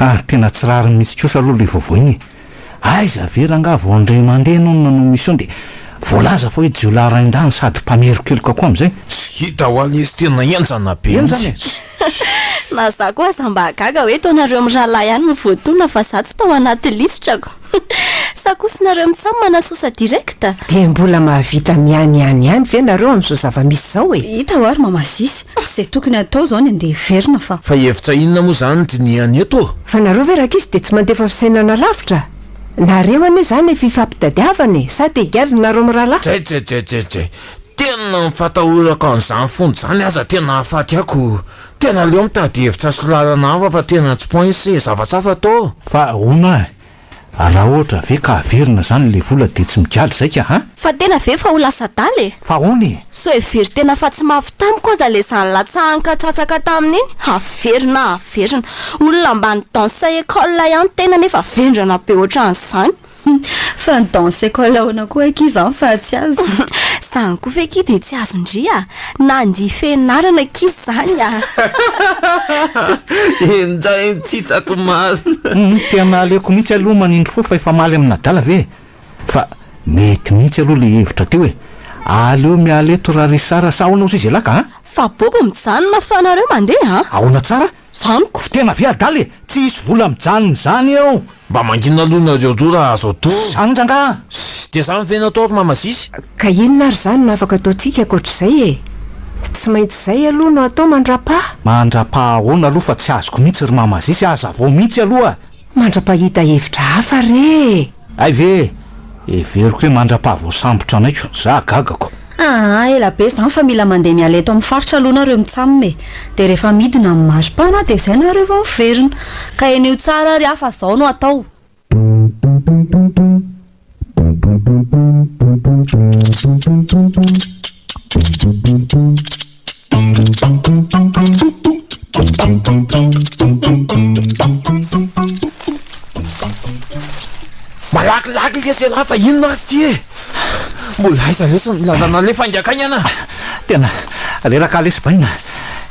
Ary tena tsy rariny mihitsy kosa aloha ilay vaovao iny e! Aiza ve rangaha vao indray mandeha ianao no nanao mission dia voalaza fa hoe jiolahy rain-dahy no sady mpamerin-keloka koa amin'izay? Tsy hita ho ahy lesy tena henjana be mihitsy. Na za koa aza mba gaga hoe tao nareo mirahalahy ihany no voatolona fa za tsy tao anaty lisitrako. Sa kosa nareo mitsam manasosa direct? Dia mbola mahavita miany ihany ihany ve nareo amin'izao zava-misy izao e? Hita hoa ry mama Zisy, izay tokony hatao izao ny andeha hiverina fa. Fa hevitra inona moa izany dinihany eto ô? Fa nareo ve rankizy dia tsy mandefa fisainana lavitra? Nareo anie izany efa ifampitadiavana e, sa te higadra nareo mirahalahy? Jajajajajay! Tena mifatahorako an'izany fony izany aza tena ahafaty ahy ko! Tena aleo mitady hevitra sy lalana hafa fa tena tsy points e, safasafa tô! Fa ahoana a! Raha ohatra ve ka averina zany ilay vola dia tsy migaly zay ka a! Fa tena ve fa ho lasa adala e! Fa ahoana e! So hevery tena fa tsy mafy tamiko aza ilay zany latsahany katsatsaka taminy iny, averina averina! Olona ambany danse école ihany tena nefa vendrana be ohatran'izany! Hum, fa ny danse école ahoana koa akia izany fa tsy azo? Izany koa ve akia dia tsy azon-dry a! Nandia fianarana akia izany a! Injay ny tsy hitako masina. Hum, tena aleoko mihitsy aloha manindry fo fa efa maly amin'adala ve e! Fa mety mihitsy aloha ilay hevitra teo e! Aleo miala eto ra Richard a! Sa ahoana ozy izy elah ka a! Fa bobo mijanona fa nareo mandeha a! Ahoana tsara? Zany ko fitena ve adala e! Tsy hisy vola mijanona izany eo. Mba mangina aloha nareo roa raha azo atao. Zany rangaha. Ssy, dia zany ve natao ry mama sisy? Ka inona ary zany no afaka ataontsika ankoatr'izay e! Tsy maintsy zay aloha no atao mandra-paha. Mandra-paha ahoana aloha fa tsy azoko mihitsy ry mama sisy, aza vao mihitsy aloha e! Mandra-pahita hevitra hafa re e! Hay ve e! Heveriko hoe mandra-pahavoasambotra anay ko! Za gagako! Aa ela be zany fa mila mandeha miala eto amin'ny faritra aloha nareo mitsamina e! Dia rehefa midina amin'ny maripana dia izay nareo vao miverina! Ka heniho tsara ary afa zao no atao! Malakilaky nge zay lahy fa inona ary ity e? Mbola aiza lesy ny lalana le faingankaingana? Tena reraka lesy baina,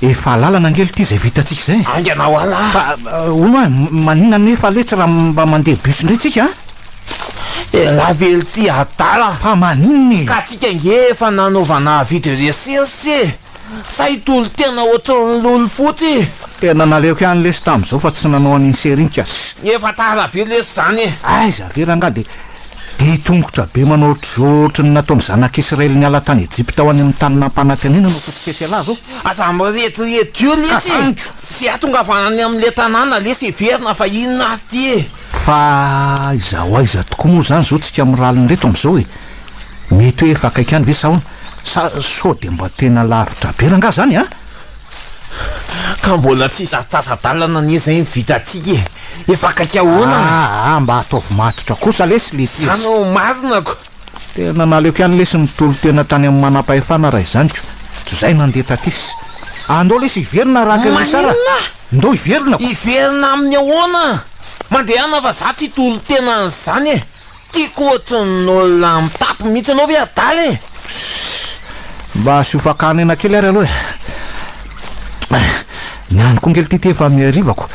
efa alalana nge ity zay vitantsika zay. Haingana ho ala a! Hono a, maninona anefa letsy raha mba mandeha bus indray tsika a? Elah ve ry ty adala a! Fa maninona e! Ka tsika nge efa nanaovana avis de recherche e! Sa i Tolo tena ohatran'ny lolo fotsy e! Tena naleoko ihany lesy tamin'izao fa tsy nanao an'iny serie iny ka. Efa tara be lesy izany e! Aiza avelany nga dia dia hitongotra be manao ohatr'izao ohatry ny nataon'ny zanak'Israely niala tany Ejipta ho any amin'ny tany nampanantenana no fototr'esy elah zao. Aza mirediredy eo lesy e! Tsy ahatongavana any amin'ilay tanàna lesy heverina fa inona ary ty e! Fa aiza ho aiza tokoa moa izany izao tsika miralina ireto amin'izao e? Mety hoe efa akaiky any ve sa ahoana? Sa sao dia mba tena lavitra be rangah izany an? Ka mbola tsy sasasasa-dalana anie izay ny vitantsika e! Efa akaiky ahoana? Aa mba ataovy matotra kosa lesy le tetsy. Izany no masina ko! Dia nanaleo ihany lesy nitolo tena tany amin'ny manampahefana raha izany ko. Tsy izay nandeha tatis. Ah ndao lesy hiverina araka ilay sara. Maninona ah? Ndao hiverina ko. Hiverina amin'ny ahoana ah? Mandehana fa za tsy hitolo tena an'izany eh. Tiako ohatry ny olona mitapy mihitsy anao ve adala eh. Shh. Mba asio fakana aina kely ary aloha eh. Ah. Ny ahy koa ngely ity ity efa mihariva ko.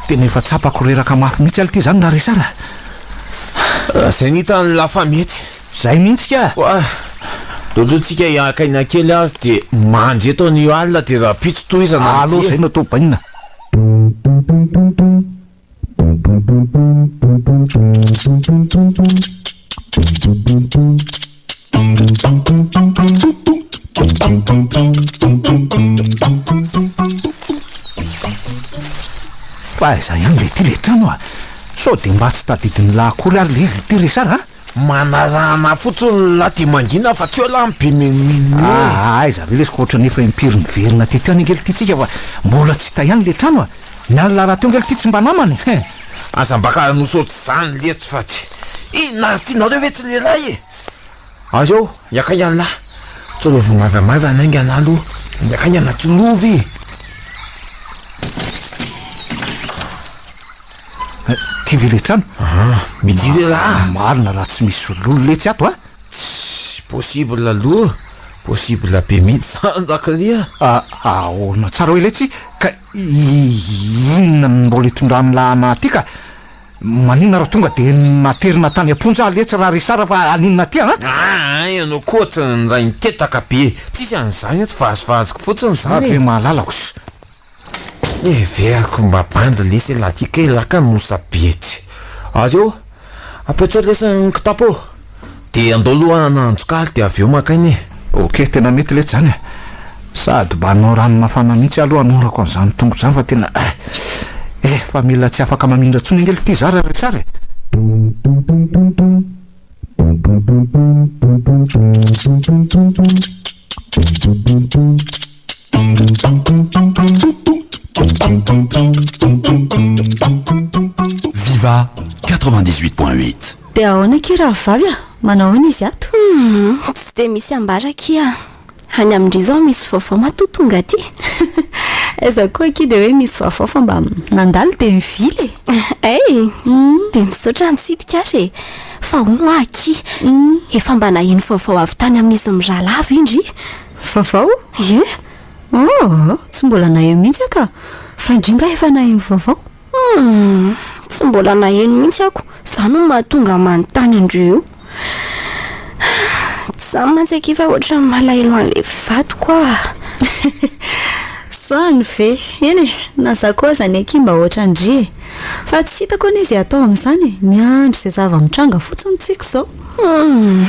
Tena efa tsapako reraka mafy mihitsy alo ity izany raha ry sara. Zay nita ny la famille Zay mintsy ka. Koa Lolo tsika hiaka aina kely ary dia mandry eto an io alina dia rapitso tohizana ny Allo zay no atao bainina. Fa aiza ihany le ty le trano a? Sao de mba tsy tadidin'i la akory ary le izy le ty Richard a? Manarahana fotsiny la ty mangina fa tsy eo la ny be menomenona eo e! Aa aiza ve lesy ka ohatrany efa impiry niverina teto ihany ange le ty tsika fa mbola tsy hita ihany le trano a? Ny an'i la rahateo ange le ty tsy mba namany e! Aza mba ka hanao saotsy zany letsy fa tsy inona ary tianareo ve tsy lehilahy e! Aleo hiakaihany lahy sao le vao maivamaivana aingana aloha ny akaihana tsy lova e! Ty ve le trano? Aha, mety lehilahy! Marina raha tsy misy lolo letsy ato a! Tsy possible aloha. Possible be mihitsy zany ndakary a! Ahaona tsara hoe letsy ka inona no mbola itondran'ny lahana aty ka! Maninona raha tonga dia naterina tany am-ponja aho letsy raha resara fa haninona aty an! Aa ianao koa tsy nindray nitetaka be e! Tsisy an'izany eto, vazivaziko fotsiny za. Ve mahalala osa? Heveriko mba bandy lesy elah ty kay laka no sabe etsy ary eo apetsao lesy ny kitapo eo de andao aloha hanandro kaly de avy eo maka aina e. Ok tena mety letsy zany a! Sady mba hanao rano mafana mihitsy aloha hanorako an'izany tongotro izany fa tena eh! Efa mila tsy afaka mamindra intsony ange ity za ra Richard e! Viva quatre vingt dix huit point huit. Dia ahoana akia rahavavy a! Manao ahoana izy ato? Humm, tsy dia misy ambara akia a! Any amin-dry izao misy vaovao matoa tonga aty e! Aiza koa akia dia hoe misy vaovao fa mba nandalo dia mivily e! Hey! Dia misaotra nitsidika ary e! Fa hono hoa akia, efa mba naheno vaovao avy tany amin'izy mirahalahy ve ndry? Vaovao? Ie? Oh, tsy mbola naheno mihitsy aho ka. Fa ingainga efa naheno vaovao. Hum, tsy mbola naheno mihitsy aho ko. Zany no mahatonga ahy manontany andrio io. Zany mantsy akia fa ohatran'ny malahelo an'ilay vadiko aho. Zany ve? Eny e, na za koa aza anie akia mba ohatran-dry e. Fa tsy hitako anie izay atao amin'izany e. Miandry izay zava-mitranga fotsiny tsika izao. Hum.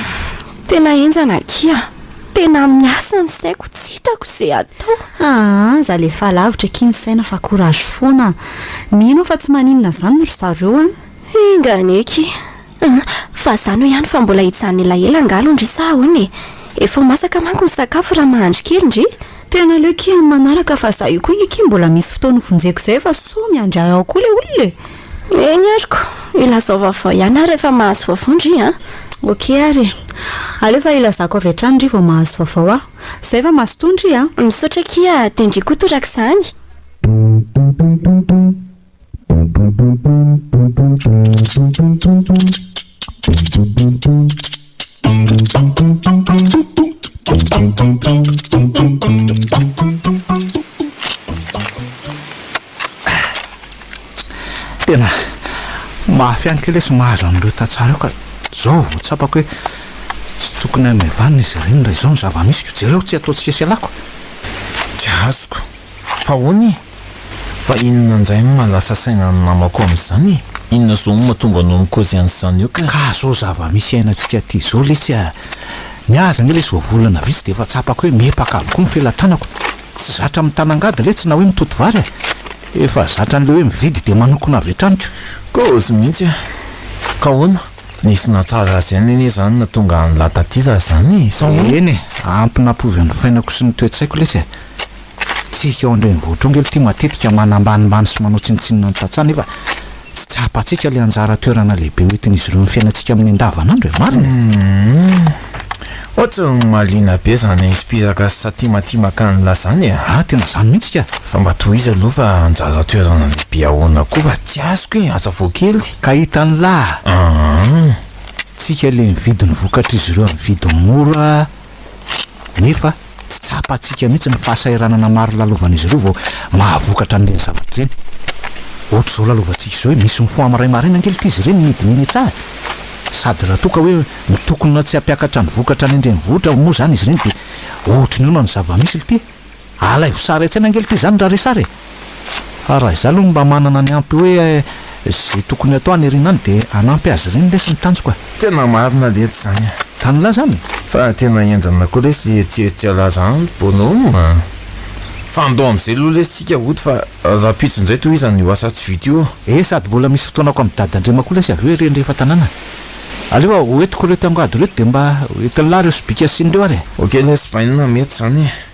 Tena henjana akia. Tena miasa ny saiko tsy hitako ze atao. Aa za lefa lavitra akia ny saina fa courage foana a. Mino aho fa tsy maninona zany ry zareo an. Enga anie akia an. Fa za no ihany fa mbola hijanona elaela angaha aloha ndry sa ahoana e? Efa ho masaka manko ny sakafo raha mahandry kely ndry. Tena aleo akia amin'ny manaraka fa za io koa nge akia mbola misy fotoana hovonjeko zay fa sao miandry ahy ao koa le olona e. Eny ary ko! Ilazao vaovao ihany aho rehefa mahazo vaovao ndry a! Ok ary e! Aleo fa ilazako avy hatrany ndry vao mahazo vaovao aho! Zay fa mazotoa ndry a! Misaotra akia a! Dia ndry koa torak'izany! Tena mafy ihany kely sy mahazo an'ireo tantsaha ireo ka izao vao tsapako hoe tsy tokony hanome vaniny izy ireny raha izao ny zava-misy. Jereo tsy ataontsika sy ialako. Tsy azoko fa honia? Fa inona ndray no mahalasa saina ny namako amin'izany e? Inona zao no mahatonga anao mikozy an'izany eo ka? Ka zao zava-misy iainantsika aty zao lesy a! Ny ahy aza anie lesy vao volana vitsy dia efa tsapako hoe mihepaka avokoa ny felatanako. Tsy zatra mitana angady lesy na hoe mitoto vary a! Efa zatra an'ilay hoe mividy dia manokona avy hatrany ko! Kozy mihitsy a! Ka ahoana? Nisy nahatsara azy ihany anie izany nahatonga an'lah taty zah izany e? Sa ahoana? Eny e! Ampy nampiova ny fainako sy ny toe-tsaiko lesy e! Isika ao an-drenivohitra ao ange tia matetika manambanimbany sy manao tsinontsinona ny tantsaha nefa tsy tsapantsika ilay anjara toerana lehibe ho entin'izy ireo amin'ny fiainantsika amin'ny andavanandro e! Marina e! Ohatry ny mahaliana be izany aizim-pihiraka sy satimatimaka ny lazany e! Ah, tena izany mihitsy ka! Fa mba tohizo aloha fa anjara toerana lehibe ahoana koa fa tsy azoko e! Aza vao kely! Ka hitan'lah! Tsika ilay mividy ny vokatr'izy ireo amin'ny vidiny mora. nefa tsy tsapantsika mihitsy ny fahasahiranana maro lalovan'izy ireo vao mahavokatra an'ireny zavatra ireny. Ohatr'izao lalovantsika izao hoe misy mifoha amin'ny ray maraina angelika izy ireny midinihina etsy ary sady raha toa ka hoe mitokona tsy hampiakatra ny vokatra any an-drenivohitra moa izany izy ireny dia ohatry ny ahoana ny zava-misy lty? Alaivo sary an-tsaina angelika izany raha re sary e! Fa raha izaho aloha mba manana ny ampy hoe izay tokony hatao any aoriana any dia hanampy azy ireny lesy ny tanjoko e! Tena marina letsy zany a! Tany laza any e! Fa tena henjana koa lesy le tsieritsia laza any bonhomme a! Fa andao amizay aloha lesy tsika hody fa rahampitso indray tohizana io asa tsy vita io a! Eh sady mbola misy fotoanako am dada ndrema koa lesy avy eo ery andrefa tanàna e! Aleo a! Ho entiko ireo tiango ady ireo dia mba ho entin'i lahy ireo sobika asiany ireo ary e! Ok lesy bainina mety zany e!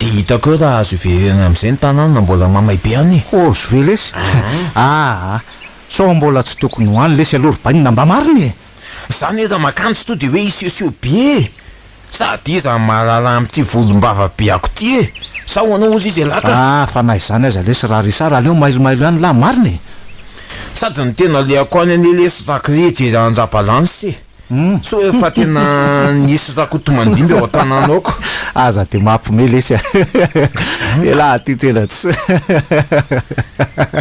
Dia hitako eo raha azo iverena amin'izay ny tanàna mbola mamay be an e! Hors ve lesy? Aa! Sao mbola tsy tokony ho any lesy aloha ry bainina mba marina e! Za anie raha makany tsy tonga dia hoe hisehoseho be e! Sady iza no mahalala amin'ity volombava be ako ity e! Sa ho anao ozy izy elah ka? Aa! Fa na izany aza lesy raha Richard aleo mailomailo ihany lah marina e! Sady ny tena alehako any anie lesy raha kry hijery an-dRabalansa e! Tsy hoe efa tena nisy Rakotomandimby ao an-tanàna ao ko. Aza dia mampme lesy a! Elah aty tena tsy.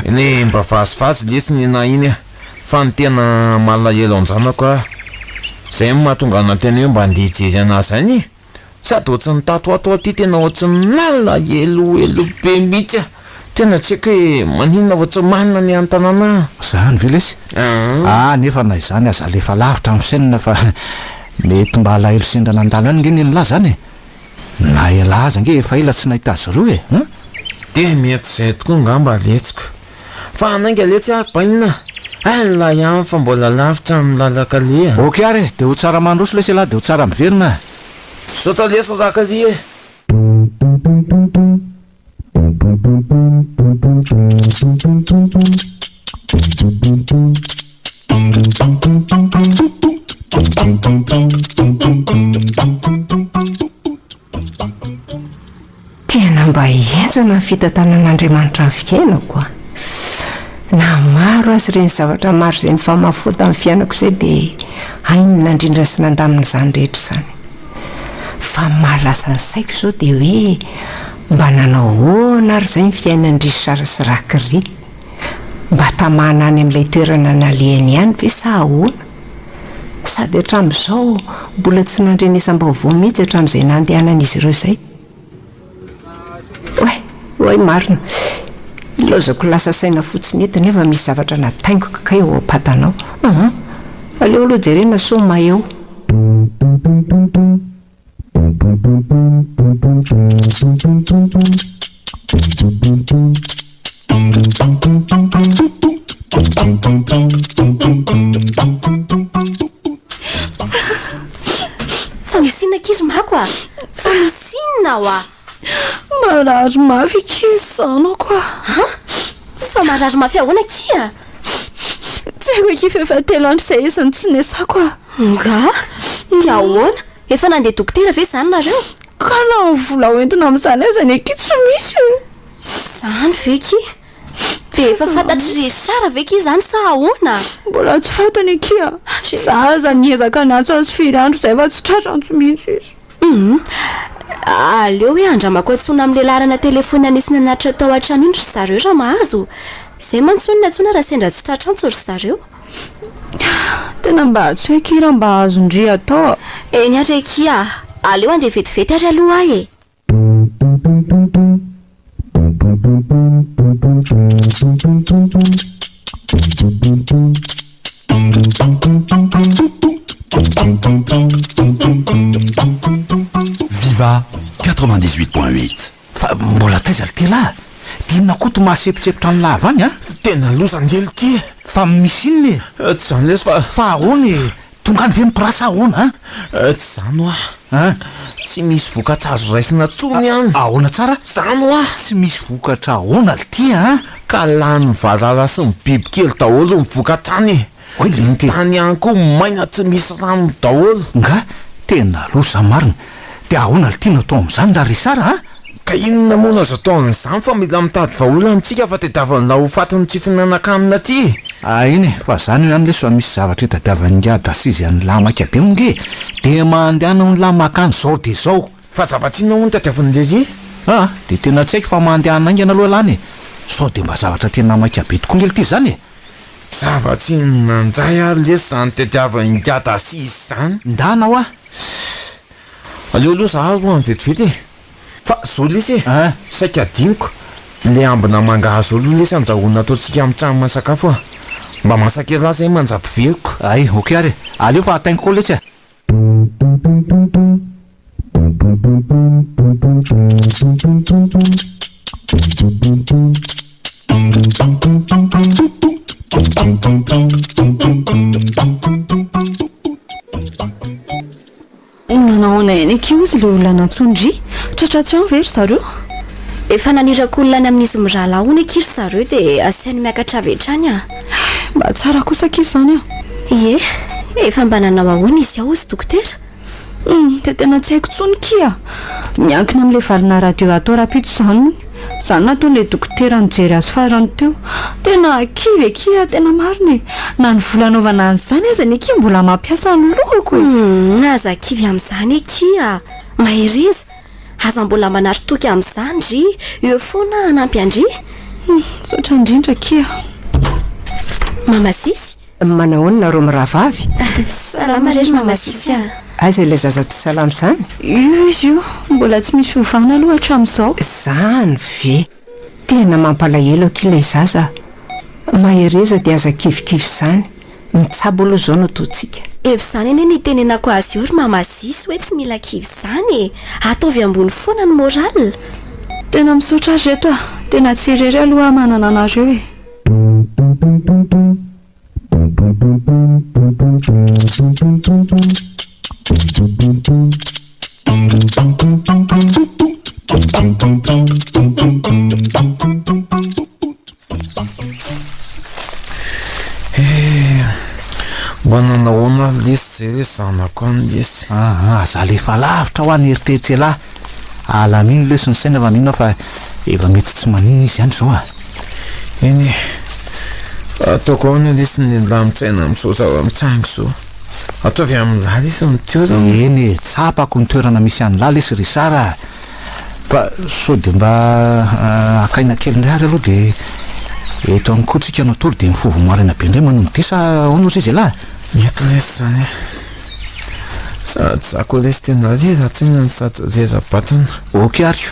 Eny e, mba vazivazy lesy ny nahy iny a! Fa ny tena malahelo an-janako aho. Izay no mahatonga ahy nanteny hoe mba andeha hijery an'azy any e! Sady ohatsin'ny tatoato aty tena ohatsin'ny lalina eloelo be mihitsy a! Tena tsy haiko hoe maninona vao tsy manana ny an-tanàna an! Zany ve lesy? Ah nefa na izany aza alefa lavitra amin'ny chaîne fa mety mba alahelo sendra nandalo any nge ny an'lah zany e! Na elah aza nge efa ela tsy nahita azy roa e! Dia mety izay tokoa ngamba letsiko. Fa handainga letsy ary bainina a! Hay la ihany fa mbola lavitra ny lalan-kaleha. Ok ary e, de ho tsara mandroso lesy elah de ho tsara miverina a! Misaotra lesy Rakali e! Tena mba henjana ny fitantanan'Andriamanitra ny fiainako a! Na maro aza ireny zavatra maro izay nifamafò tamin'ny fiainako izay dia hainy nandrindra sy nandamina izany rehetra izany. Fa ny mahalaza ny saiko izao dia hoe mba nanao ahoana ary izay ny fiainan-dry Sara sy Rakiry? Mba tamana any amin'ilay toerana nalehany ihany ve sa ahoana? Sady hatramin'izao mbola tsy nandrenesam-baovao mihitsy hatramin'izay nandehanan'izy ireo izay. Oay, oay marina. Ilaozako lasa saina fotsiny eto nefa misy zavatra nataingiko kay ao am-patanao. Ahaa, aleo aloha jerena sao maheo. Fa misy inona akia ry mako a? Fa misy inona oa? Marary mafy akia ny zanako a! Ha? Fa marary mafy ahoana akia? Tsy haiko akia fa efa telo andro izay izy no tsy nesako a! Angaha? Dia ahoana? Efa nandeha dokotera ve izany nareo? Ka na ny vola hoentina amin'izany aza anie akia tsy misy e! Izany ve akia? Dia efa fantatr'i Richard ve akia izany sa ahoana? Mbola tsy fantany akia. Izaho aza niezaka niantso azy firy andro izay fa tsy tratrantsy mihitsy izy. Humm. Aleo hoe andramako antsoina amin'ilay laharana telefonina nisy nanatitra tao an-trano iny ry zareo raha mahazo. Izay mantsy hono ny antsoina raha sendra tsy tratra antso ry zareo. Tena mba tsy hay akia raha mba azon-dry atao a! Eny ary akia a! Aleo handeha vetivety ary aloha aho e! Viva quatre vingt dix huit point huit. Fa mbola taiza ry tela a! Dia inona koa to mahasepotsepotra ny lava any a! Tena loza ny elo ity e! Fa misy inona e! Tsy izany lesy fa. Fa ahoana e! Tonga any ve ny place ahoana an? Tsy zany hoa. An? Tsy misy vokatra azo raisina tsony an! Ahoana tsara? Zany hoa. Tsy misy vokatra ahoana lty an? Ka lanin'ny valala sy ny bibikely daholo ny vokatra any e! Ny tany ihany koa maina tsy misy rano daholo. Nga tena loza marina. Dia ahoana ary tianao atao amin'izany ra ry Sara a? Ka inona moa no azo atao amin'izany fa mila mitady vahaolana tsika fa tadiavin'lah ho fatin'ny tsy fihinanankanina ty e! Ah eny e, fa zany ihany lesy fa misy zavatra itadiavan'ingahy Dasizy an'lah maika be hono e! Dia mandehana honolah makany zao dia zao! Fa zavatsy inona hono tadiavin'i Lelie? Ah, dia tena tsy haiko fa mandehana haingana aloha lah any e! Sao dia mba zavatra tena maika be tokoa nge lty zany e! Zavatsy inona njay ary lesy zany tadiavin'ingahy Dasizy zany? Ndana hoa, Sss, aleo aloha za aloha any vetivety e! Fa zao lesy e! An! Saika adinoko, le ambina mangahazo zao aloha lesy andrahoina ataontsika amin'ny tranon'ny sakafo a! Mba masaka ery lasa iny manjam-piveriko. Hay, ok ary e! Aleo fa ataingiko ao lesy a! Nanao ahoana ihany akia ozy ilay olona nantsoin-dry? Tratra tsy ho any ve ry zareo? Efa naniraka olona any amin'izy mirahalahy hono akia ry zareo dia asainy miakatra avy hatrany a! Mba tsara kosa akia izany an! Ie, efa mba nanao ahoana izy ao ozy dokotera? Humm, dia tena tsy haiko tsony kia! Miankina amin'ilay valina radio atao rapitso izany hono. Izany no nataon'ilay dokotera nijery azy farany teo. Tena kivy akia a! Tena marina e! Na ny vola anaovana an'izany aza anie kia mbola mampiasa ny lohako e! Humm, aza kivy amin'izany akia! Mahereza! Aza mbola manary toky amin'izany ndry! Eo foana hanampy an-dry! Humm, misaotra indrindra akia! Mama Sisy, Manahoana rô mirahavavy? Salama re ry Mamasisy a! Aiza ilay zaza tsy salama izany? Io izy io, mbola tsy misy ovana aloha hatramin'izao. Izany ve? Tena mampalahelo akia ilay zaza a! Mahereza dia aza kivikivy izany, mitsabo aloha izao no ataontsika. Efa izany anie ny itenenako azy io ry Mamasisy hoe tsy mila kivy izany e! Ataovy ambony foana ny morale. Tena misaotra ry reto a! Tena tsy irery aloha aho manana anareo e! Mba nanao ahoana ary lesy zay hoe zanako any lesy? Aa za le efa lavitra hoa ny eritreritr'elah, alan'iny lesy ny saina fa mino aho fa efa mety tsy maninona izy any zao a! Eny e, ataoko ahoana lesy ny lamin-tsaina amin'izao zava-mitsangy izao? Ataovy amin'lah lesy ny toerana. Eny e, tsapako ny toerana misy an'lah lesy Richard a! Fa sao dia mba haka aina kely indray ary aloha dia eto ihany koa tsika no tory dia ny fovo maraina be indray manolo-dia sa ahoana ozy izy elah? Mety lesy izany e! Sady za koa lesy te nalehilantsaina no sady rera-batana. Ok ary.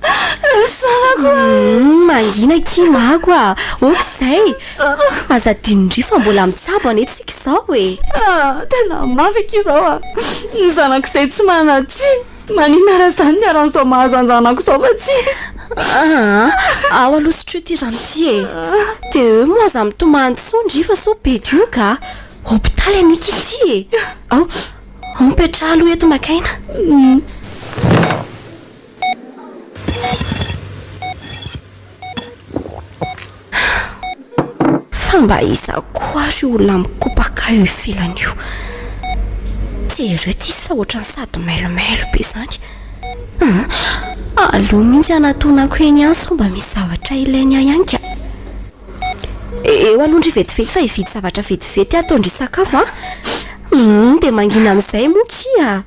Zanako a! Humm mangina akia mako a! Ok zay! Zanako! Aza adino ndry fa mbola mitsabo anie tsika izao e! Ah! Tena mafy akia izao a! Ny zanako izay tsy manan-tsiny! Maninona raha izany ny harany izao mahazo an-janako izao fa tsy izy! Aa! Ao aloha sotro ity rano ity e! DE moa aza mitomany tsony ndry fa sao be dioka a! Hopitaly anie akia ity e! Ao! Ao mipetraha aloha eto maka aina! Humm. Fa mba iza koa ary io olona mikopaka eo ivelany io? Jereo ity izy fa ohatran'ny sady mailomailo be izany. Aa! Aleo mihitsy hanatonako eny ihany sao mba misy zavatra ilainy ahy ihany ka. Eo aloha ndry vetivety fa hividy zavatra vetivety ataon-dry sakafo an! Humm, dia mangina amin'izay moa kia!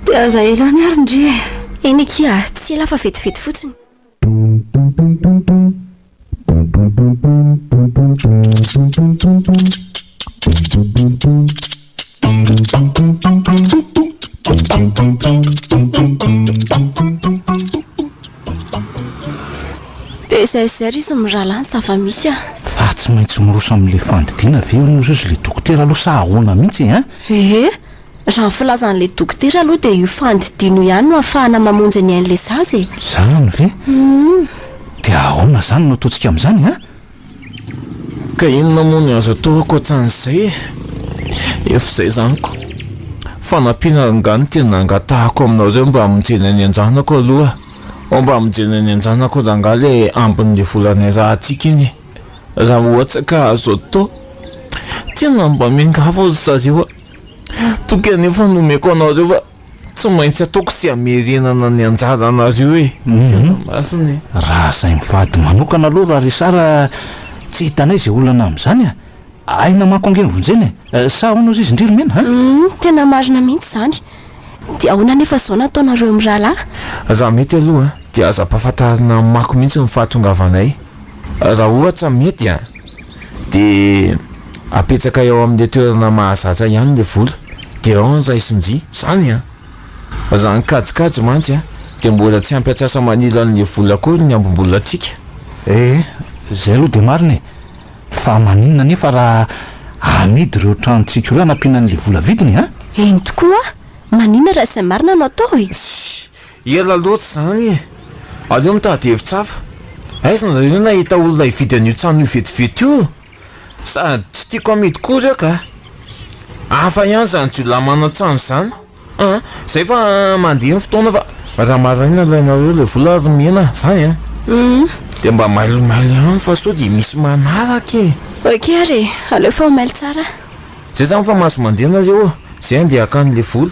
Dia aza elan ary ndry e! Eny akia, tsy ela fa vetivety fotsiny. Dia aiza aiza ary izy mirahalahy ny zava-misy a! Fa tsy maintsy miroso amin'ilay fandidiana ve ianao izao sy ilay dokotera aloha sa ahoana mihitsy e? Ee! Raha ny filazan'ilay dokotera aloha dia io fandidian'io ihany no afahana mamonjy ny ain'ilay zaza e! Izany ve? Dia ahoana izany no ataontsika amin'izany an? Ka inona moa ny azo atao ankoatran'izay e? Efa izay izany ko! Fanampiana angaha no tena angatahako aminareo mba hamonjena ny an-janako aloha ô! Mba hamonjena ny an-janako rangaha ilay ambin'ny vola niarahantsika iny e! Raha ohatra ka azo atao! Tena mba miangavy ry zareo a! Toky anefa no omeko anareo fa tsy maintsy ataoko tsy hamerenana ny anjaranareo e. Tena masina e. Raha zay mivady manokana aloha ra ry Sara tsy hitanay izay olana amin'izany a. Aina manko ange ny vonjena e. Sa ahoana ozy izy ndry ry Mena a? Humm tena marina mihitsy izany. Dia ahoana anefa izao no ataonareo mirahalahy? Raha mety aloha dia aza ampahafantarina amako mihitsy ny fahatongavanay raha ohatra mety a. dia apetsakay ao amin'ilay toerana mahazatra ihany ilay vola dia ao ny raisin-jia, izany an! Fa raha ny kajikajy mantsy an, dia mbola tsy ampy antsasa-manila an'ilay vola akory ny ambim-bolatsika. Ee, izay aloha dia marina e! Fa maninona anefa raha amidy ireo tranontsika ireo hanampiana an'ilay vola vidiny an? Eny tokoa an! Maninona raha izay marina no atao e! Ela loatra izany e! Aleo mitady hevitra hafa. Aiza nareo no ahita olona hividy an'io trano io vetivety io? Sady tsy tiako hamidy koa ireo ka! Hafa ihany izany jiolahy manan-trano izany an! Izay fa mandeha ny fotoana fa raha maraina alainareo ilay vola ary omena ahy izany an! Dia mba mailomailo ihany fa sao dia misy manaraka e! Ok ary e! Aleo fa ho mailo tsara. Zay izany fa mahazo mandeha nareo ô! Izay andeha hakany ilay vola.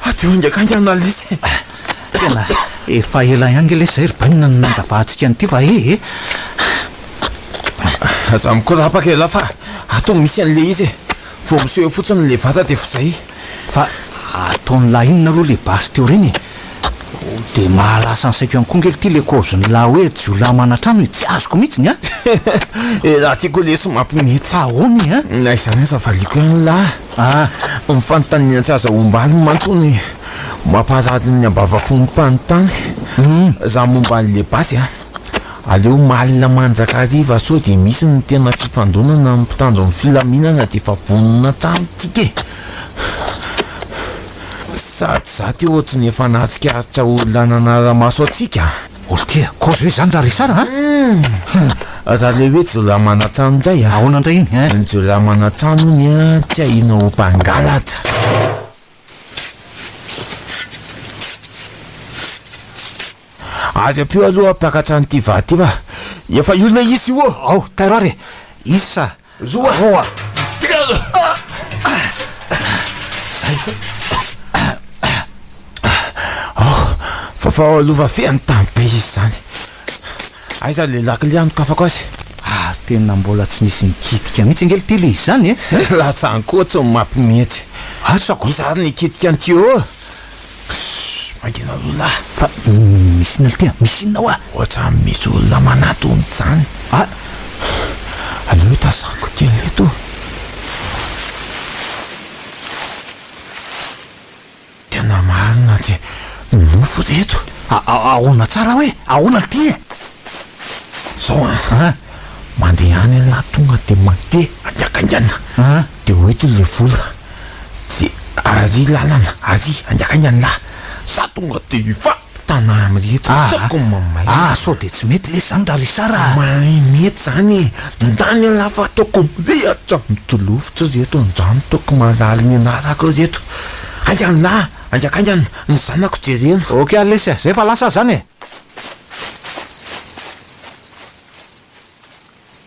Adio haingakainga ny Alice e! Tena efa ela ihany nge le zay ry Bainina no nandavahadtsika an'ity va e e! Aza mikorapaka elah fa ato misy an'le izy e! Vao miseho eo fotsiny le vata de f'zay! Fa ataon'lah inona aloha le basy teo reny e! Dia mahalasa ny saiko ihany koa ngely ity le kaozin'lah hoe jiolahy manatrano e! Tsy azoko mihitsy ny ahy! Elah ty koa lesy mampimetsy! Ahoana e a! Na izany aza valiako ihany lah! Ah, ny fanontaniana tsy aza ombaliny mantsy hono e! Mampaharary ny ambavanfon'ny mpanontany za momba an'le basy a! Aleo malina mandrakariva sao dia misy ny tena fifandonana amin'ny mpitandro ny filaminana dia efa vonona hatrany tsika e! Sady za ty ohatry ny efa nahatsikaritra olona nanara-maso antsika. Olo tia kozy ve izany ra Richard a? Hum! Raha le hoe jiolahy manan-trano indray a! Ahoana indray iny a? Ny jiolahy manan-trano hono a tsy ahiana ho mpangalatra. Ary ampio aloha mpakatra an'ity vary ity fa efa io ilay izy io ô! Ao, tairo ary e! Isa, roa, telo, zay. Oh, fa fa lova feno tany be izy zany. Aiza le lakile anokafako azy? Ah, tena mbola tsy nisy nikitika mihitsy ange ity le izany e. Lasa ankoatso ny mapy mihitsy. Asako. Iza ary nikitika ny tuyau? Ssss mangina roalahy. Fa misy inona ry tia? Misy inona hoa? Ohatrany misy olona manatona izany. Ah! Aleo itazako kely eto. Tena marina tsy nofo ry eto. Ahoana tsara hoe ahoana ry tia? Izao an! Mandeha any ialahy tonga dia mandeha haingankaingana dia ho eto ilay vola. Dia ary lalana ary angaha ny an'lah za tonga dia hivady tana amreto ah ataoko ny mamay ah ah sao dia tsy mety lesy zany ra risara ah. Mahay mety zany e ndany an'lah fa ataoko mirehatra mitolovitra reto ndrano ataoko malaly ny anarako reto ainga an'lah ainga kainga ny zanako jerena. Ok ary lesy ah zay fa lasa ah zany e.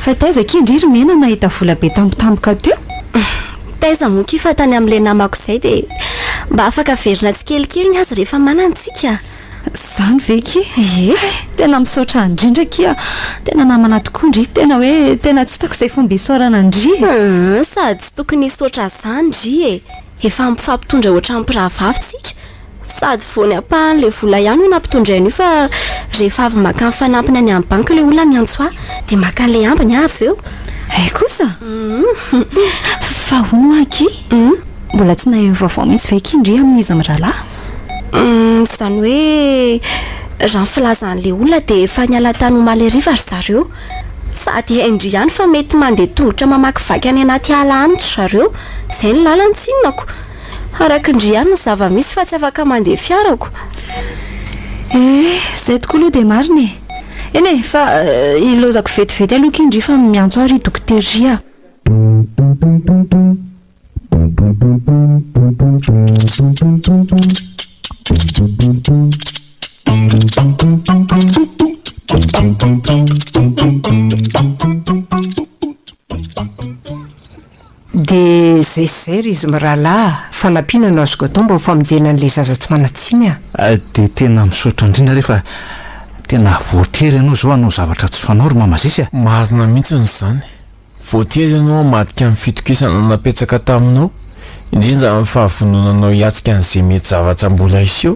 Fa taiza akia ndry ry Mena nahita vola be tampotampoka teo? Taiza moa akia fa tany amin'ilay namako izay dia mba afaka averina tsikelikely ny azy rehefa manana tsika. Izany ve akia? Ie. Tena misaotra ndrindra akia, tena namana tokoa ndry, tena hoe tena tsy hitako izay fomba isaorana ndry e! Aa, sady tsy tokony hisaotra ahy izany ndry e! Efa mifampitondra ohatran'ny mpirahavavy tsika, Sady vao ny ampahan'ilay vola ihany no nampitondray an'io fa rehefa avy maka ny fanampiny any amin'ny banky ilay olona miantso ahy dia maka an'ilay ambiny aho avy eo. Hay kosa! Fa hono hoa akia, mbola tsy nahery vaovao mihitsy ve akia ndry amin'iza mirahalahy? Izany hoe raha ny filazan'ilay olona dia efa niala tany omaly hariva ry zareo. Sady hay ndry ihany fa mety mandeha tongotra mamakivaky any anaty ala any ry zareo. Izay ny lalany, tsinona ko! Araka ndry ihany ny zava-misy fa tsy afaka mandeha fiarako. Eh, zay tokoa aloha dia marina e! Eny e, fa ilaozako vetivety aloha ky ndry fa miantso ahy ry dokoteria. Dia zay sy zay ry izy mirahalahy a! Fanampiana no azoko atao mba ho famonjena an'ilay zaza tsy manan-tsiny a! Dia tena misaotra indrindra re fa tena voatery ianao izao hanao zavatra tsy fanao ry Mama Zisy a! Marina mihitsiny izany. Voatery ianao hamadika ny fitokisana napetsaka taminao, indrindra amin'ny fahavononanao hiatrika an'izay mety zavatra mbola hiseho.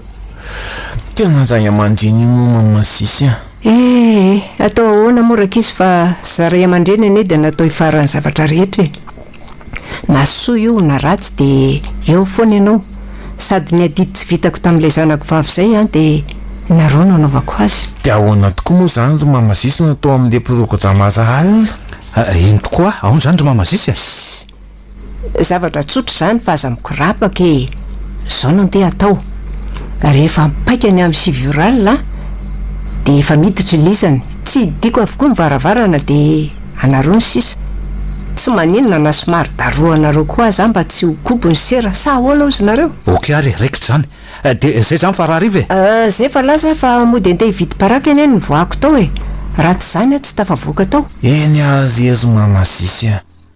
Tena ray aman-dreny ianao Mama Zisy a! Ee, atao ahoana moa rankizy fa za ray aman-dreny anie dia natao hifaran'ny zavatra rehetra e! Na soa io na ratsy dia eo foana ianao, sady ny adidy tsy vitako tamin'ilay zanako vavy izay an dia nareo no anaovako azy. Dia ahoana tokoa moa izany ry Mama Zisy no atao amin'ilay prokodrama Azahary? Aa, eny tokoa, aona izany ry Mama Zisy a? Zavatra tsotra izany fa aza mikorapaka e! Izao no andeha hatao, rehefa mipaika ny amin'ny sivy ora alina dia efa miditra i Lizany, tsy hidiako avokoa ny varavarana dia anareo ny sisa, tsy maninona na somary darohanareo koa aza mba tsy ho kobo ny sera, sa ahoana ozy nareo? Ok ary e, raikitra izany. Dia izay izany fa rahariva e! Izay efa laza aho fa mody andeha hividy paraky anie no nivoahako tao e! Raha tsy izany aho tsy tafavoaka tao. Eny azy ezo mamasisy a!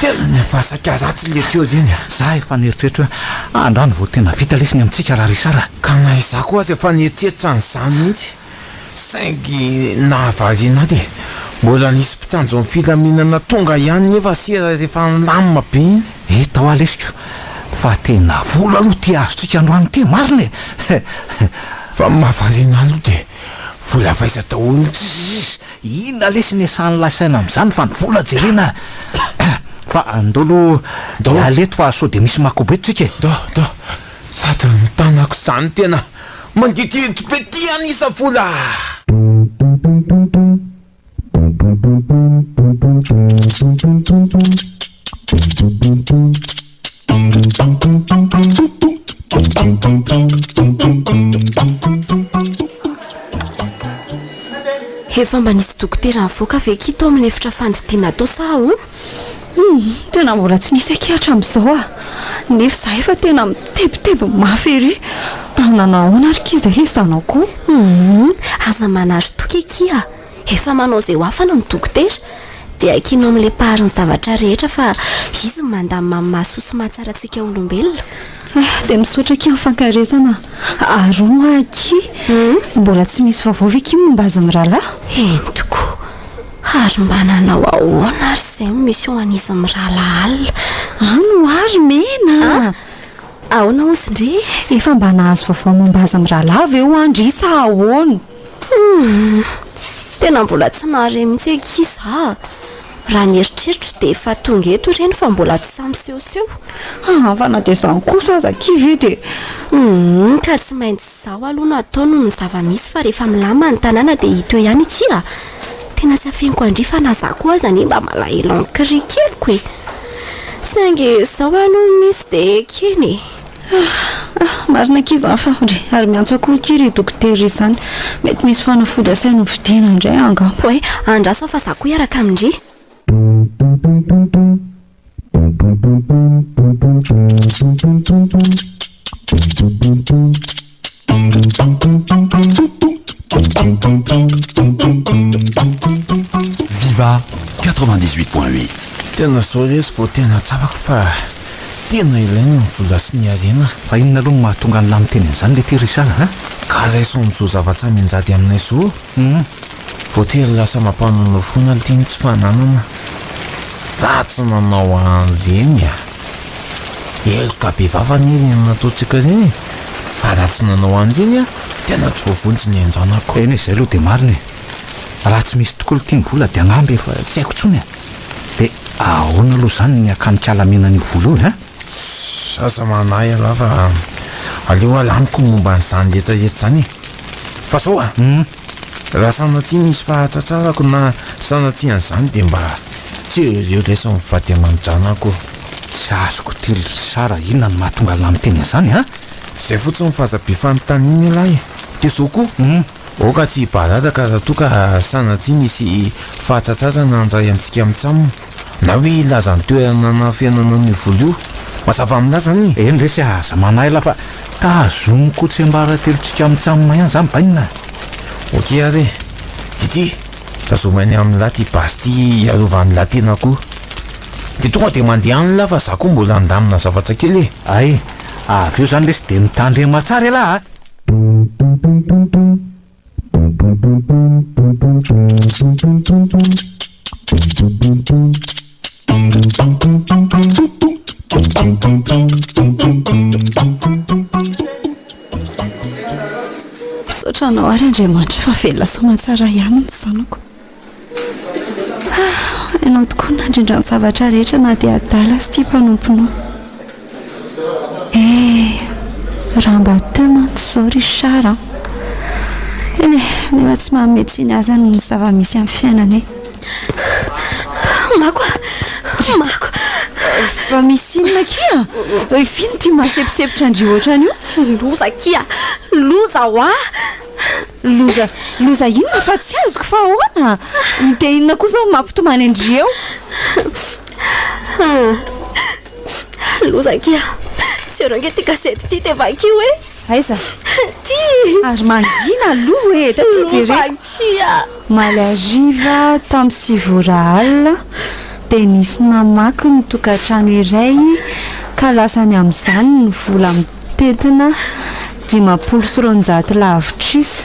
Tena nivasaka ratsy ilay tuyau zeny a! Za efa nieritreritra hoe andrano vao tena vita lesy amintsika ra Richard a! Ka na izaho koa aza efa nieritreritra an'izany mihitsy saingy nahavariana ahy dia mbola nisy mpitandro ny filaminana tonga ihany nefa sera rehefa nilamina be iny. Hita hoa lesiko fa tena vola aloha ity azontsika androany ity marina e! He he he! Fa ny mahavariana ahy aloha dia vola avaiza daholo tsisisisy! Inona lesy ny asan'ilay saina amin'izany fa ny vola jerena fa andao aloha hiala eto fa sao dia misy makobo eto tsika e! Do, do, sady ny tanako izany tena mangigidy be ity hanisa vola a! Efa mba nisy dokotera nivoaka ve akia tao amin'ny efitra fandidiana atao sa ahoana? Humm, tena mbola tsy nisy akia hatramin'izao ah. Nefa izahay efa tena mitebiteby mafy ery. Nanao ahoana ary akia izay ilay zanako? Humm, aza manary toky akia. Efa manao izay ho afany ny dokotera, dia hakianao amin'ny leparin'ny zavatra rehetra fa izy no mandamina amin'ny maha soa sy maha tsara antsika olombelona. Ah, dia misaotra akia amin'ny fankaresana. Ary hono hoa akia, mbola tsy misy vaovao ve akia momba azy mirahalahy? Eny tokoa. Ary mba nanao ahoana ary izay ny mission an'izy mirahalahy alina? Any ho ahy ry Mena a! Ah, ahoana hozy ndry e? Efa mba nahazo vaovao momba azy mirahalahy ve ho'a ndry sa ahoana? Humm. Tena mbola tsy nahare mihitsy akia za a! Raha ny eritreritro dia efa tonga eto ireny fa mbola tsy sahy misehoseho. Haa fa na dia izany kosa aza akia ve dia. Humm ka tsy maintsy izao aloha no atao noho ny zava-misy fa rehefa milamina ny tanàna dia hita eo ihany akia a! Tena tsy afeniko an-dry fa na za koa aza anie mba malahelo an-kry keliko e! Saingy izao aloha misy dia ekena e! Ah ah marina akia zany fa re ary miantso akoho akia ry dokotera ry zany mety misy fanafody asainy ho vidiana indray angamba hoe andraso fa za koa hiaraka amin-dry Viva 98.8. Tena zao lesy vao tena tsapako fa tena ilaina ny vola sy ny harena. Fa inona aloha no mahatonga an'lah miteny an'izany letie Richard a? Ka raiso amin'izao zava-tsaminjady aminay izao. Humm voatery lasa mampanonofy foana ity ny tsy fananana datsy nanao an'ireny a! Heloka be vava anie ireny nataontsika ireny e! Fa raha tsy nanao an'ireny aho tena tsy voavonjy ny an-janako. Eny e, izay aloha dia marina e! Raha tsy misy tokoa ity ny vola dia angamba efa tsy haiko intsony a! Dia ahoana aloha izany ny hakany kala mena an'io vola io e? Ss aza manahy ialahy fa aleo alaniko ny momba an'izany hetsahetsa izany e! Fa zao a! raha sanatria misy fahatratrarako na sanatria an'izany dia mba tsy eo eo lesy mivady aman-dranako. Tsy azoko ity ry Richard inona no mahatonga lany tena izany an! Zay fotsiny fa aza be fanontaniana ialahy e! De zao koa, hum, aoka tsy hibadadaka raha toa ka sanatria misy fahatsatsazana handray antsika mitsam, na hoe hilaza ny toerana anafenana an'io vola io. Mazava amin'la zany e! Eny resy a, aza manahila fa tazomiko tsiambaratelontsika mitsam ihany zany bainina a! Ok ary e! Didi, tazomy any amin'la ty basy ty hiarovan'la tenako io. De tonga de mandeha any la fa za koa mbola handamina zavatra kely e! Ay, avy eo zany lesy de mitandrema tsara ialahy a! Misaotra anao ary Andriamanitra fa velona soamantsara ihany ny zanako. Ah, ianao tokoa no nandrindra ny zavatra rehetra na dia adala aza ity mpanomponao. Eh, raha mba teo mantsy izao Richard an! Eny e, nefa tsy manome tsiny azany ny zava-misy amin'ny fiainanay. Mako a! Mako! Fa misy inona akia? Ry Finn ity maseposepotra an-dry ohatran'io? Loza akia! Loza hoa! Loza, loza inona fa tsy azoko fa ahoana? Dia inona koa izao mampitomany an-dry eo? Loza kia, jereo ange ity gazety ity dia vakio e! Aiza? Aty! Ary mangina aloha e, dia aty jereo. Loza kia! Omaly hariva tamin'ny sivy ora alina dia nisy namaky ny tokantrano iray ka lasany amin'izany ny vola tetina dimampolo sy roanjato lavitrisa,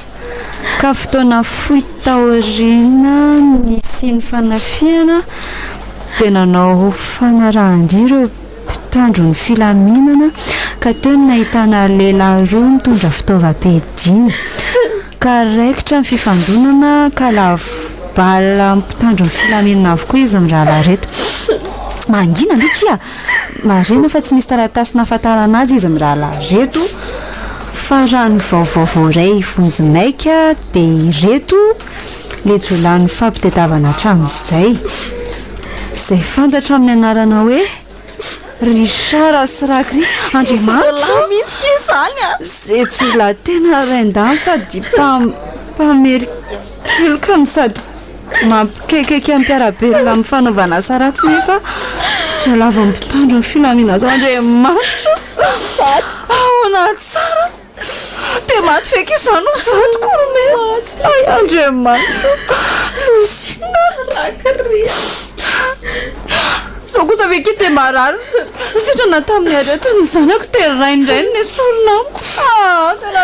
ka fotoana fohy taoriana nisian'ny fanafihana dia nanao fanarahan-dia ireo mpitandro ny filaminana ka teo no nahitana lehilahy roa nitondra fitaovam-piadiana, ka raikitra ny fifandonana ka lavo bala mpitandro ny filaminana avokoa izy mirahalahy ireto. Marihina fa tsy nisy taratasy nahafantarana azy izy mirahalahy ireto fa raha ny vaovao voaray vonjy maika dia ireto ilay jiolahy nifampitadiavana hatramin'izay. Izay fantatra amin'ny anarana hoe Richard sy Rakry Andriamanitra izay jiolahy tena rain-danja sady mpamerin-keloka no sady Mampikaikaika ny mpiara-belona amin'ny fanaovana asa ratsy nefa voalavo amin'ny mpitandro ny filaminana ato Andriamanitra. Ahoana tsara? Dia maty feky izany no vadiko ry mena. Ay Andriamanitra. Lozina. Zao kosa ve ki dia marary sitrana tamin'ny aretina ny zanako dia raindrainy ny sorona amiko. Ah, tena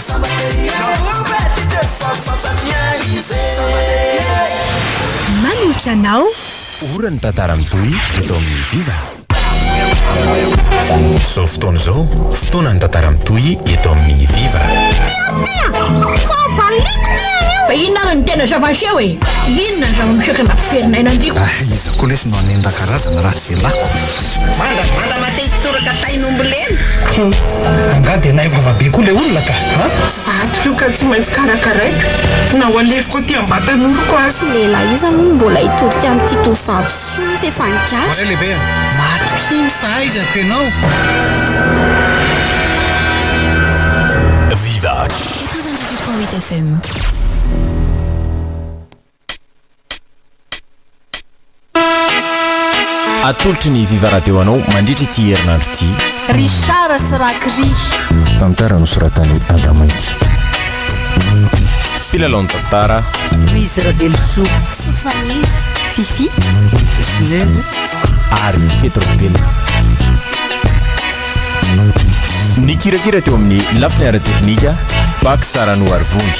Manolotra anao. Ora ny tantara mitohy eto amin'ny Viva. Izao fotoana izao, fotoanan'ny tantara mitohy eto amin'ny Viva. Fa inona ary no tena zava-niseho e? Inona ny zava-miseho ka nampiferinaina an-driko? Aiza koa lesy no hanendaka razana raha tsy ialako? Mandravandra-mate hitoraka tain'ombilena. Hum, angaha dia nahay vava be koa ilay olona ka an! Vadiko io ka tsy maintsy karakaraiko na ho alefiko aty am-batanoroko aza. Lehilahy iza moa no mbola hitodika amin'ity tovovavy soa nefa efa nigadra? Voaray lehibe a! Matokia ny fahaizako ianao. Viva. Quatre-vingt-dix-huit point huit FM. Atolotry ny Viva Radio anao mandritra ity herinandro ity. Richard sy Rakry. Tantara nosoratan'i Andra Mainty. Mpilalao ny tantara. Louise Ravelosoa. Sofaniry. Fifi. Sinezy. Ary Petro Bella. Nikirakira teo amin'ny lafiny ara-teknika Bak Sarano Arivondy.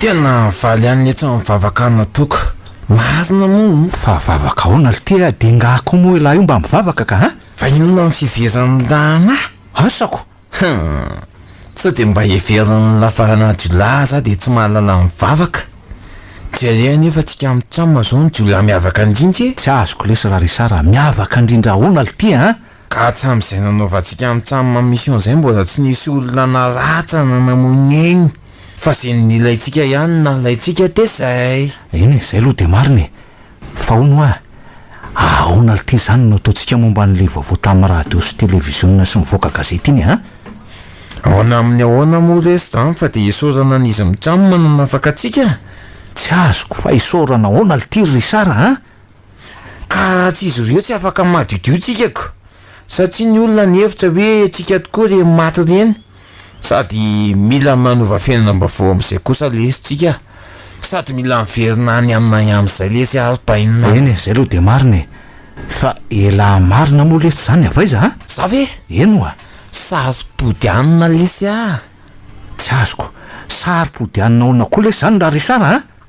Tena valy any letsy amin'ny vavaka ana toaka. Marina moa o. Fa vavaka aona lty a? De ngah ko moa elah io mba mivavaka ka a? Fa inona ny fiheveran'ny rahalahy? Asako! Hum! Sao dia mba heverin'ny lafarana jiolahy za dia tsy mahalala mivavaka? Jereo anie fa tsika mitsam zao ny jiolahy miavaka ndrindra e! Tsy azoko lesy ra Richard a, miavaka ndrindra aona lty a? Ka hatramin'izay nanaovantsika mitsam mission izay mbola tsy nisy olona nalatsana namoinegny fa ze nilaintsika ihany no nalaintsika de zay. Eny e, zay aloha de marina e. Fa hono hoa, ahaona lty zany no ataontsika momba an'le vaovao tamin'ny radio sy televiziona sy mivoaka gazety iny a? Aona amin'ny ahoana moa lesy zany fa de isaorana an'izy mitsam nanafaka antsika? Tsy azoko fa isaorana ahoana lty ry Richard a? Ka raha tsy izy ireo tsy afaka madiodio tsika ka! Satria ny olona nihevitra hoe tsika tokoa ireny maty ireny sady mila manova fiainanam-baovao amin'izay kosa lesy tsika sady mila miverina any aminay amin'izay lesy ary bainina. Eny e, izay aloha dia marina e! Fa elah marina moa lesy izany avy aiza a? Za ve? Eny oa! Saro-pody hanina lesy a! Tsy azoko, saro-pody hanina ahoana koa lesy izany ra Richard a?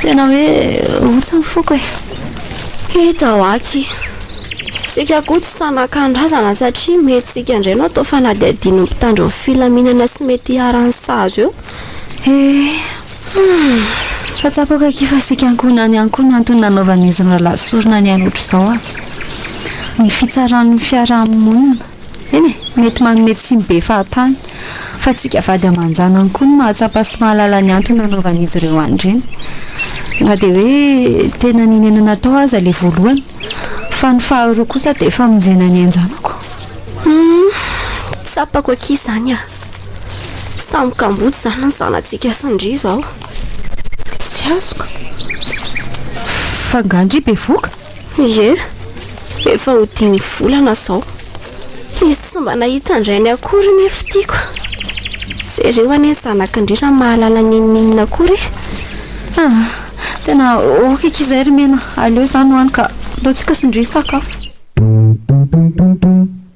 Tena hoe otsa ny foko e. Hita ao aky. Tsika koa tsy sanakan-drazana satria mety tsika indray no atao fanadihadian'ny mpitandro ny filaminana sy mety iharan'ny sazy eo. Eeh. Fa tsapako aky fa sika ankohonany ihany koa no antony nanaovan'izy mirahalahy sorona ny aina otrzao a. Ny fitsaran'ny fiaraha-monina. Eny e, mety manome tsiny be fahatany. Fa tsika vady aman-janany koa no mahatsapa sy mahalala ny antony nanaovan'izy ireo an'ireny. Na dia hoe tena ninenana atao aza ilay voalohany. Fa ny faharoa kosa dia famonjena ny ain-janako. Humm, tsapako akia izany a! Samy kamboty izany ny zanatsika sy ny ndry izao. Tsy azoko. F'angaha ndry bevoka? Ie, efa ho dimy volana izao. Izy tsy mba nahita an-drainy akory ny fitiako. Jereo anie ny zanak'Andry raha mahalala n'inon'inona akory e! Ah! Tena ok eky izay ry Mena, aleo izany hoany ka, ataontsika sy Ndry sakafo.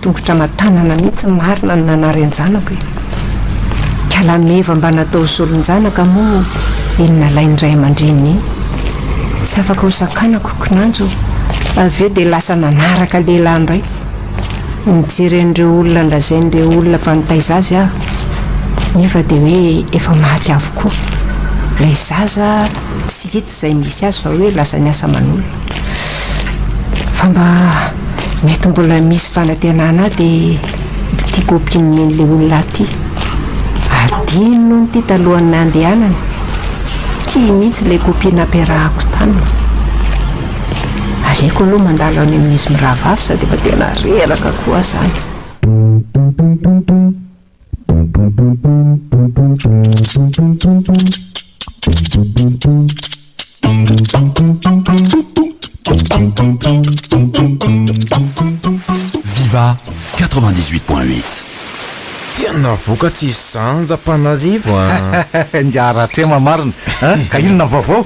Tongotra aman-tanana mihitsy marina no nanary an-janako e! Kalameva mba natao zoron-janaka moa iny nalain'ny ray aman-dreniny iny. Tsy afaka ho sakanako kinanjo avy eo dia lasa nanaraka lehilahy indray. Nijery an'ireo olona nolazain'ireo olona fa nitaiza azy aho nefa dia hoe efa maty avokoa. Ilay zaza Hita izay misy azy fa hoe lasa niasa aman'olona. Fa mba mety mbola misy fanantenana ahy dia tiako ampian'ny an'ilay olona ahy ity. Adino hono ity talohan'ny nandehanany. Tia mihitsy ilay copie nampiarahako taminy. Aleoko aloha mandalo any amin'izy mirahavavy sady efa tena reraka koa aho izany. Viva quatre vingt dix huit point huit. Tena vokatry i Zanja Antananarivo an! Ingahy Ratrema marina a! Ka inona ny vaovao?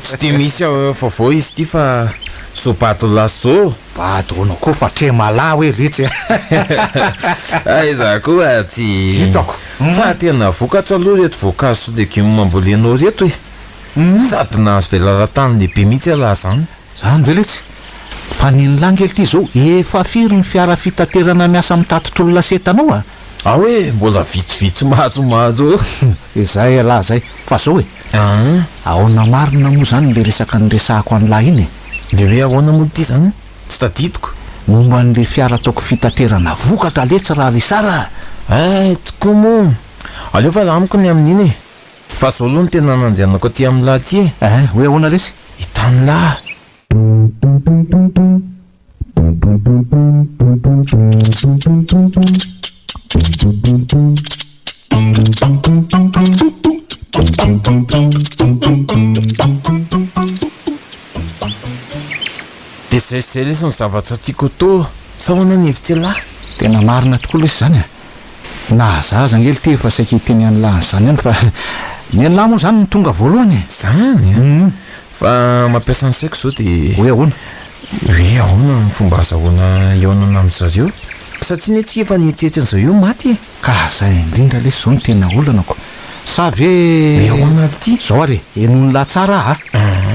Tsy dia misy vaovao izy ity fa soa bato laso. Bado hono koa fa tremala hoe ritsy e! Aiza koa tsy hitako fa tena vokatra aloha ireto voankazo sy legioma ambolenao ireto e! Sady nahazo velaran-tany lehibe mihitsy ialahy izany. Zany ve letsy? Fa ny ny langy lty zao efa firy ny fiara fitaterana miasa mitatitra olona sy entana ao a? Ao e, mbola vitsivitsy mahazo mahazo eo. Hum, izay ialahy izay, fa zao e! An! Aona marina moa zany le resaka niresahako an'lah iny e! Le hoe ahoana moa ity zany? Tsy tadidiko. Momba an'le fiara ataoko fitaterana vokatra letsy ra ry Sara a! Ay! Tokoa moa! Aleo fa lah amiko ny amin'iny e! Fa zao aloha no tena nandehanako aty amin'lah aty e! An! Hoe ahoana lesy? Hitan'lah! Dia zay sy zay lesy ny zavatra tiako atao sa ahoana ny hevitr'ialahy? Tena marina tokoa lesy izany a! Na za aza ange litery fa saika hiteny an'lah an'izany ihany fa ny an'lah moa izany no tonga voalohany e! Izany a! Fa mampiasa ny saiko zao de. Hoe ahoana? Hoe ahoana ny fomba azahoana hihaonana amin-dry zareo? Satria anie tsy efa nihetsehetsen-dry zareo maty e! Ka zay indrindra lesy zao no tena olanako. Sa ve. Hoe ahoana ary ity? Zao ary e, henoin'lah tsara a! Ahh.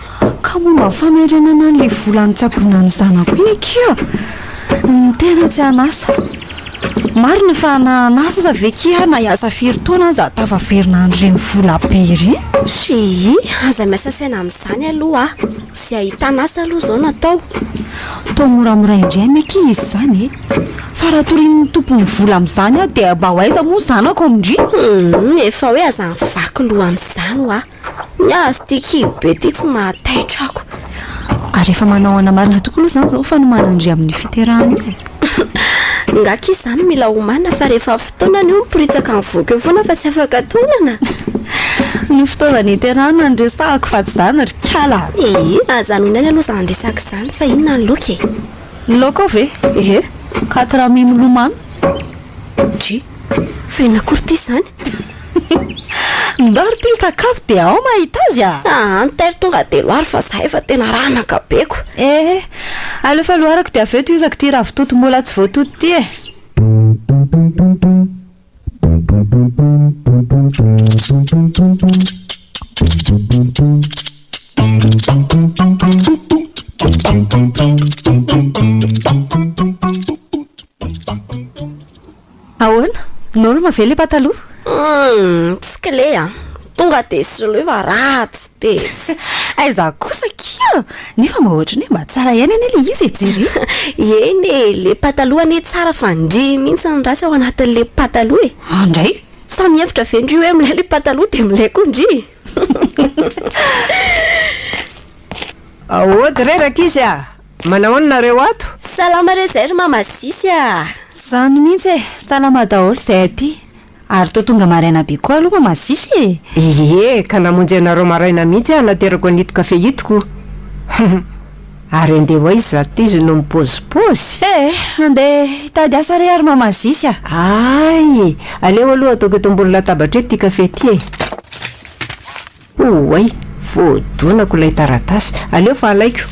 Ka momba ny famerenana an'ilay vola nitsaboana ny zanako iny akia a! Ny tena tsy an'asa. Marina fa na an'asa aza ve akia aho na hiasa firy taona aza tafaverina an'ireny vola be ireny. Schii, aza miasa saina amin'izany aloha a! Izay ahitana asa aloha izao no atao. Atao moramora indray anie akia izy izany e! Fa raha torian'ny tompon'ny vola amin'izany aho dia mba ho aiza moa ny zanako amin'ireny? Humm, efa hoe aza mivaky loha amin'izany hoa. Ny azy ity kibo be ity tsy mahataitra ako. Ary efa manaoana marina tokoa aloha izany izao fanomanan-dry amin'io fiterahana io e. Nga kis izany mila homana fa rehefa fotoanany io miporitsaka mivoaka eo foana fa tsy afaka tonana. Ny fitaovana iterahana no resahako fa tsy izany ry kala. Ee, aza anoinany aloha izany resaka izany fa inona ny laoka e? Ny laoka ao ve? Ie. Quatre amis milomano. OMG! Fa inona akory ity izany? Ndao ry tim sakafo dia ao mahita azy a! Aa ny taily tonga telo ary fa zahay efa tena ranaka be ko! Ee, aleo fa loarako dia avy eo tohizako ity ravitoto mbola tsy voatoto ity e! Ahoana? Norma ve le pataloha? Humm, tsy kle a! Tonga dia soloy fa ratsy be etsy! Aiza kosa kia! Nefa mba ohatran'ny hoe mba tsara ihany anie le izy e! Jereo! Eny e! Le pataloha anie tsara fa ndry mihitsy ny ratsy ao anatin'le pataloha e! An ndray! Sa mihevitra ve ndry hoe milay le pataloha dia milay koa ndry? Ahoa dray rankizy a! Manao an nareo ato? Salama re zay ry mama Sisy ah! Zany mihitsy e! Salama daholo izay aty! Ary toa tonga maraina be koa aloha mama Sisy e! Ie, ka namonjy anareo maraina mihitsy aho naterako an'ito kafe ito ko! Ary andeha ho aiza izaho ity izy no mipozipozy? Eh! Andeha hitady asa re ary mama Sisy a! Ay! Aleo aloha ataoko eto ambony latabatra eto ity kafe ity e! Oay! Voadonako ilay taratasy. Aleo fa alaiko.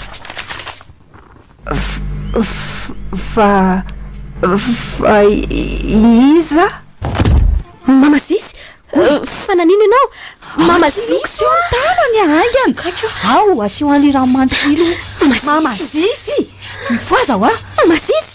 Fa, fa iza? Mama Zizy! Fa nanino ianao? Mama Zizy! Aoka tsy eo ny tanany a! Haingana! Ao, asio an'ilay rano mandry kely io. Mama Zizy! Mifohaza hoa! Mama Zizy!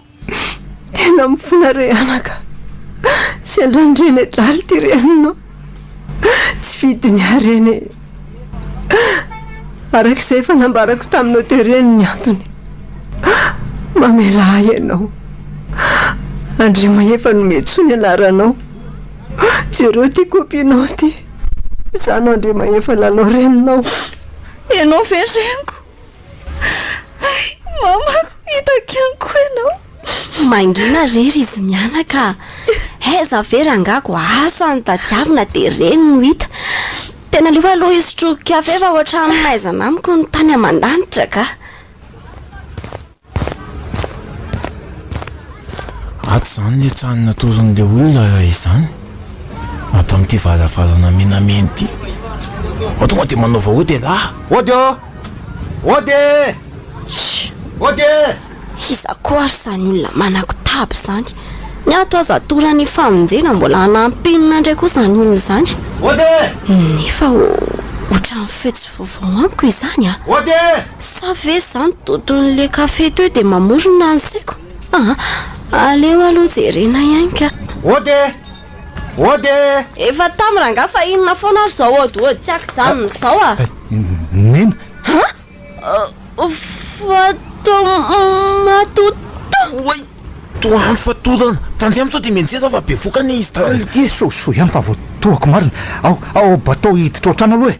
Tena mifona re anaka. Sendra ny rene draly ty reninao. Tsy fidiny ahy reny e. Araka izay efa nambarako taminao teo reny ny antony. Mamelà ahy ianao. Andriamahefa Nometso ny anaranao. Jereo ty copie-nao ty. Izaho no Andriamahefa Lalao reninao. Ianao ve reniko? Mamako, hitako ihany koa ianao. Mangina re ry izy mianaka a! Aiza ve rangahy ko asa ny tadiavina dia reny no hita. Tena aleo aloha hisotro kafe fa ohatran'ny maizina amiko ny tany aman-danitra kah! Ato izany ilay trano natoron'ilay olona izany, ato amin'ity varavarana menamena ity. Ao tonga dia manao vahoady ialahy. Ody ô! Ody! Ody! Iza koa ary izany olona manakotaba izany? Ny ato aza atoran'ny famonjena mbola hanaham-penina indray koa izany olona izany. Ody! Nefa ohatran'ny feo tsy Vaovao amiko izany a! Ode! Sa ve izany toton'le café teo dia mamorona ny saiko? Ah! Aleo aloha jerena ihany ka! Ode! Ode! Efa tam rangah fa inona foana ary izao ody ody tsy akijanona izao a! Nena! Ah! Fatomatoto! Oay! Toa am fatotana! Tandremo sao dia mianjera aho fa bevoka anie izy tany! Dia sosoa ihany fa voatohako marina! Ao, ao bateau hiditra ao an-trano aloha e!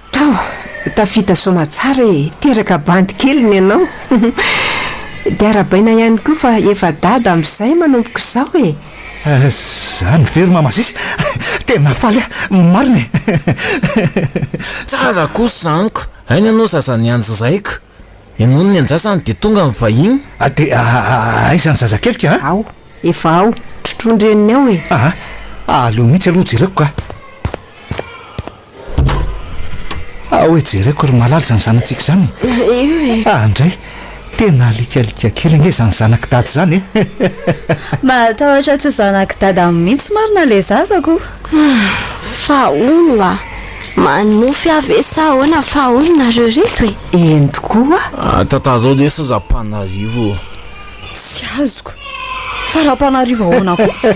Tava, tafita soamatsara e! Teraka bandy kely ny anao. Dia arabaina ihany koa fa efa dada amin'izay manomboka izao e! Izany ve ry Mamasisy? Tena faly aho, marina e! Tsara kosa amiko! Aina ianao zaza nianjy zaiko! Ianao no niandrasany dia tonga ny vahiny! Dia aiza ny zazakeliko an? Ao, efa ao, trotroin-dreniny ao e! Aa, aleo mihitsy aloha jereko kah! Ah, hoe jereko ry malala izany zanatsika izany e. Io e. Ah, ndray, tena alikalika kely ange izany zanak'i dada izany e. Mahatahotra tsy zanak'i dada mihitsy marina le zaza ko. Ah, fa hono oa, manofy aho ve sa ahoana fa hono nareo reto e. Eny tokoa. Ah, tantarao lesy ry Rapanarivo o. Tsy azoko. Fa Rapanarivo ahoana koa?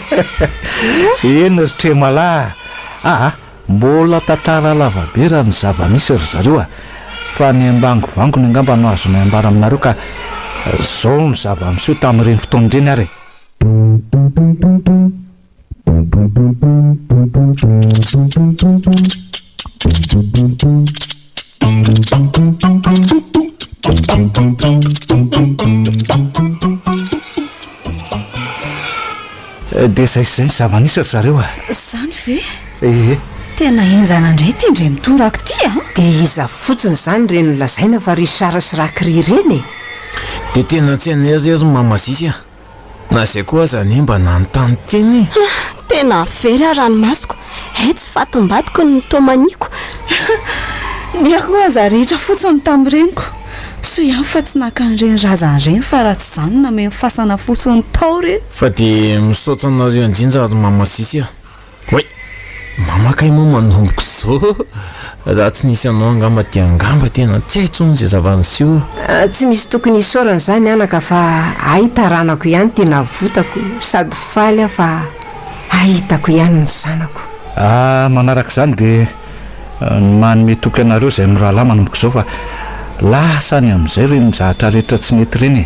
Eny ry Tremala ah. Mbola tantara lava be raha ny zava-misy ry zareo a! Fa ny ambangovangony angamba no azonay ambara aminareo ka! Zao ny zava-miseho tamin'ireny fotoana ireny ary e! Dia zay sy zay ny zava-nisy ry zareo a! Zany ve? Ee. Tena henjana indray ity ndry mitoraka ity a! Dia iza fotsiny zany ireny lazaina fa Richard sy Rakry ireny e? Dia tena tsy an'ery re ry Mama Zizy a! Na izay koa aza anie mba nanontany tena e! Hah! Tena very aho ranomasoko eh! Tsy fatim-badiko ny tomaniako. Ny ahy koa aza rihitra fotsiny tamin'ny reniko. Soa ihany fa tsy naka an'ireny razana ireny fa raha tsy izany nameno fasana fotsiny tao re. Fa dia misaotra anareo indrindra ry Mama Sisy a! Oay! Mama kay moa manomboka izao? Raha tsy nisy anao angamba dia angamba tena tsy hay intsony izay zava-niseho. Tsy misy tokony hisaorana izany anaka fa hay taranako ihany ity navotako sady faly aho fa hay hitako ihany ny zanako. Ary manaraka izany dia manome toky anareo izay mirahalahy manomboka izao fa lasa any amin'izay ireny zahatra rehetra tsy nety ireny e!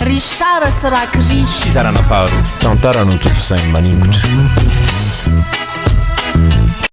Richard sy Rakiri. Fizarana faharoa. Tantara notontosain'i Maningotra.